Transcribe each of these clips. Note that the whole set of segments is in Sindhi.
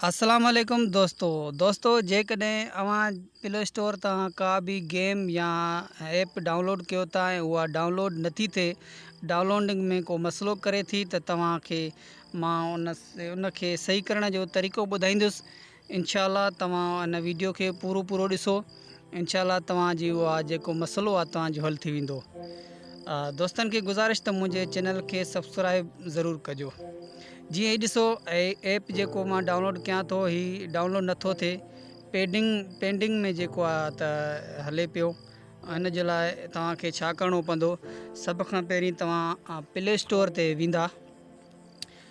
السلام عليڪم دوستو دوستو جيڪڏهن اوهان پلي اسٽور تان ڪا به گيم يا ايپ ڊائونلوڊ ڪيو ٿا ۽ اها ڊائونلوڊ نٿي ٿئي ڊائونلوڊنگ ۾ ڪو مسئلو ڪري ٿي ته توهان کي مان ان ان کي صحيح ڪرڻ جو طريقو ٻڌائيندس انشاء الله توهان ان ويڊيو کي پورو پورو ڏسو انشاء الله توهان جي اها جيڪو مسئلو آهي توهان جو حل ٿي ويندو دوستن کي گزارش ته منهنجي چينل کي سبسڪرائب ضرور ڪجو جي هي ڏسو ايپ جيڪو مان ڊائونلوڊ ڪيان ٿو هي ڊائونلوڊ نٿو ٿئي پيڊنگ پينڊنگ ۾ جيڪو آ ته هلي پيو ان جي لاء توهان کي ڇا ڪرڻو پوندو سڀ کان پهرين توهان پلي اسٽور تي ويندا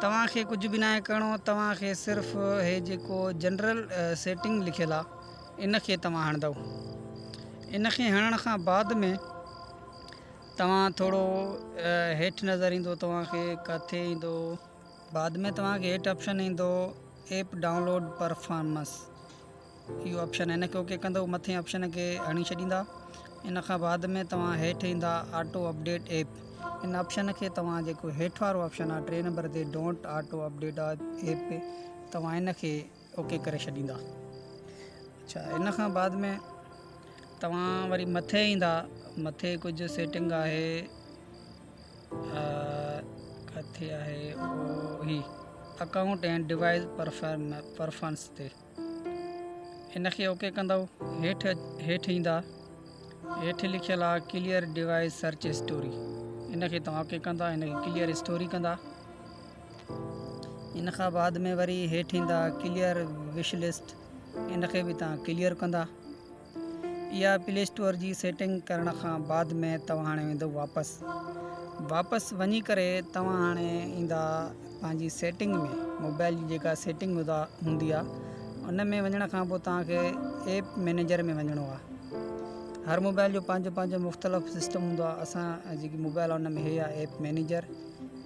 توهان کي ڪجهه به ناهي ڪرڻو توهان کي صرف هي جيڪو جنرل سيٽنگ لکيل آ ان کي توهان هڻندو ان کي هڻڻ کان بعد ۾ توهان ٿورو هيٺ نظر ايندو توهان کي ڪاٿي ايندو بعد ۾ توهان کي هيٺ آپشن ايندو ايپ ڊائونلوڊ پرفارمنس اهو آپشن هن کي اوڪي ڪندو مٿين آپشن کي هڻي ڇڏيندا ان کان بعد ۾ توهان هيٺ ايندا آٽو اپڊيٽ ايپ ان آپشن کي توهان جيڪو هيٺ وارو آپشن آهي ٽي نمبر تي ڊونٽ آٽو اپڊيٽ ايپ توهان ان کي اوڪي ڪري ڇڏيندا اچھا ان کان بعد ۾ توهان وري مٿي ايندا مٿي ڪجهه سيٽنگ آهي ڪٿي آهي اڪائونٽ اينڊ ڊوائس پرفارمنس تي ان کي اوڪي ڪندؤ هيٺ هيٺ ايندا هيٺ لکيل آ ڪليئر ڊيوائس سرچ اسٽوري ان کي توهان اوڪي ڪندا ان کي ڪليئر اسٽوري ڪندا ان کان بعد ۾ وري هيٺ ايندا ڪليئر وش لسٽ ان کي به توهان ڪليئر ڪندا اها پلي اسٽور جي سيٽنگ ڪرڻ کان بعد ۾ توهان هاڻي ويندو واپس واپس وڃي ڪري توهان هاڻي ايندا پنهنجي سيٽنگ ۾ موبائل جي جيڪا سيٽنگ هدا هوندي آهي ان ۾ وڃڻ کان پوء توهان کي ايپ مينيجر ۾ وڃڻو آهي هر موبائل جو پنهنجو پنهنجو مختلف سسٽم هوندو آهي اسان جيڪي موبائل ان ۾ هي آهي ايپ مينيجر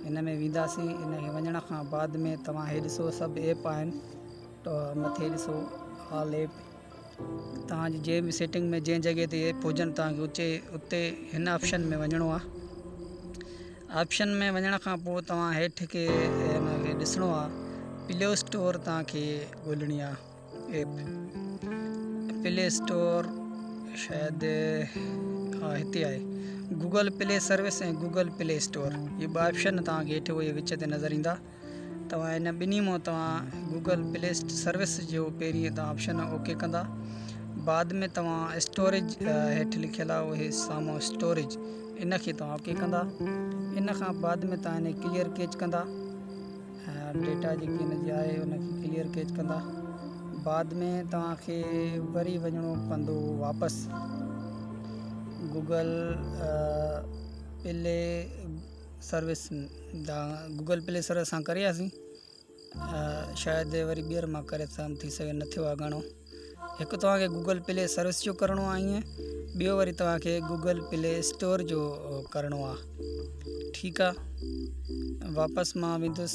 ان ۾ وينداسين ان کي وڃڻ کان بعد ۾ توهان هي ڏسو سڀ ايپ آهن مٿي ڏسو آل ايپ توهان جي جنهن به سيٽنگ ۾ جنهن جڳهه تي ايپ هجن توهان کي اچي اتي هن آپشن ۾ وڃڻو آهي آپشن ۾ وڃڻ کان پوء توهان هيٺ کي ان کي ڏسڻو آهي پلي اسٽور توهان کي ڳولهڻي آهي ايپ پلي اسٽور شايد ها هتي آهي Google play service ۽ Google play store هي ٻه آپشن توهان کي هيٺ وچ تي نظر ايندا توهان هن ٻنهي مان توهان گوگل پلي سروس جو پهرين ته آپشن اوڪي ڪندا بعد ۾ توهان اسٽوريج هيٺ لکيل آهي اهي سامو اسٽوريج ان کي توهان اوڪي ڪندا ان کان بعد ۾ توهان هن ڪليئر ڪيچ ڪندا ڊيٽا جيڪي هن جي آهي ان کي ڪليئر ڪيچ ڪندا بعد ۾ توهان کي وري وڃڻو پوندو واپس Google play service Google play service سان ڪري آياسين شايد وري ٻيهر مان ڪري سگھيم ٿي سگھي نه ٿيو آ گھڻو هڪ توهان کي گوگل پلي سروس جو ڪرڻو آ ايئن ٻيو وري توهان کي گوگل پلي اسٽور جو ڪرڻو آ ٺيڪ آ واپس مان ويندس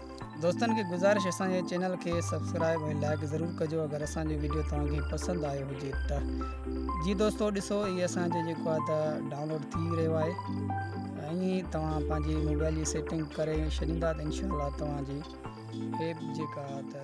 دوستن کي گذارش اسان جي چينل کي سبسڪرائب ۽ لائڪ ضرور ڪجو اگر اسان جو ويڊيو توهان کي پسند آيو هجي ته جي دوستو ڏسو هي اسان جو جيڪو آهي ته ڊائونلوڊ ٿي رهيو آهي ۽ ائين توهان پنهنجي موبائل جي سيٽنگ ڪري ڇڏيندا ته انشاء الله توهان جي ايپ جيڪا آهي ته